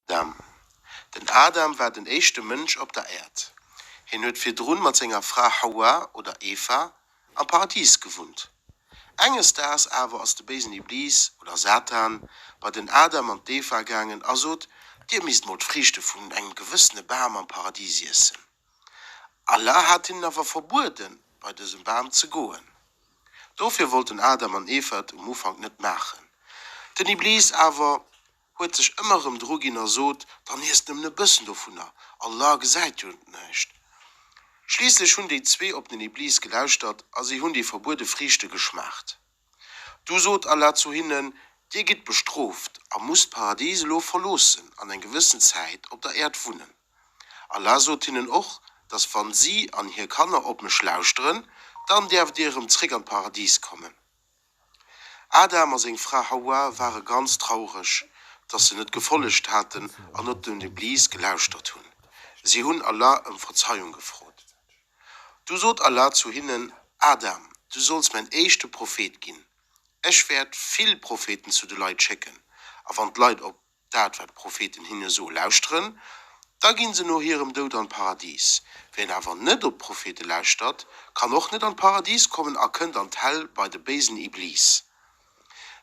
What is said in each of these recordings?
Adam. Den Adam war den éischte Mënsch op der Äerd. Hien huet virdrun mat senger Fra Hawa, oder Eva, am Paradis gewunnt. Enges Daags awer ass de béisen Iblis, oder Satan, bei den Adam an d'Eva gaangen a sot, Dir misst mol d'Friichte vun engem gewëssene Bam am Paradis iessen. Allah hat hinnen awer verbueden, bei dësem Bam ze goen. Dofir wollten Adam an Eva et um Ufank net maachen. Den Iblis awer Huet sech ëmmer erëm dru ginn a sot, Dann iesst nëmmen e bëssen dovunner, Allah gesäit jo näischt. Schliisslech hunn déi zwee op den Iblis gelauschtert a si hunn déi verbuede Friichte geschmaacht. Du sot Allah zu hinnen, Dir gitt bestrooft a musst d'Paradis elo verloossen an eng gewëssen Zäit op der Äerd wunnen. Allah sot hinnen och, dass wann si an hir Kanner op mech lauschteren, dann däerft Dir erëm zréck an d'Paradis kommen. Adam a seng Fra Hawa ware ganz traureg, dass se net gefollegt haten an net dem Iblis gelauschtert hunn. Si hunn Allah ëm Verzeiung gefrot. Du sot Allah zu hinnen, Adam, du solls mäin éischte Prophet ginn. Ech wäert vill Propheten zu de Leit schécken, a wann d'Leit op. Dat wat d'Propheten hinne soe lauschteren, da ginn se no hirem Doud an d'Paradis. Wien awer net op d'Prophete lauschtert, kann och net an d'Paradis kommen a kënnt an d'Hell bei de béisen Iblis.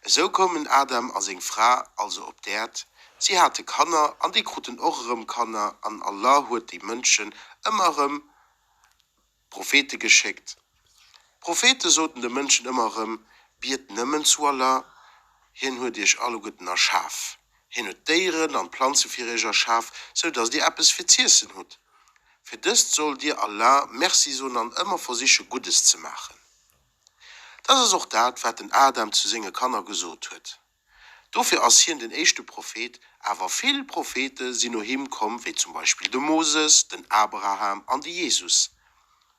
Esou koumen Adam a seng Fra also op d'Äerd, si hate Kanner an déi kruten och erëm Kanner an Allah huet déi Mënschen ëmmer erëm. Prophete geschéckt. D'Prophete soten de Mënschen ëmmer erëm, Biet nëmmen zu Allah, Hien huet iech alleguerten erschaf. Hien huet d'Déieren an d'Planze fir iech erschaf, sou dass dir eppes fir z'iessen hutt. Fir dëst sollt dir Allah Merci soen an ëmmer versiche Guddes ze maachen. Dat ass och dat, wat den Adam zu senge Kanner gesot huet. Dofir ass hien den éischte Prophet, awer vill Prophete sinn no him komm, wéi zum Beispill de Moses, den Abraham an de Jesus.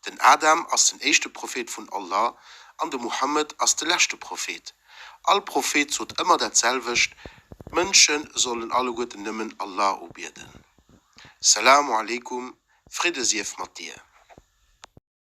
Den Adam ass den éischte Prophet vun Allah an de Muhammed ass de leschte Prophet. All Prophet sot ëmmer dat selwecht, d'Mënsche sollen alleguerten nëmmen Allah ubieden. Salamu aleykum, Fridde sief mat dir.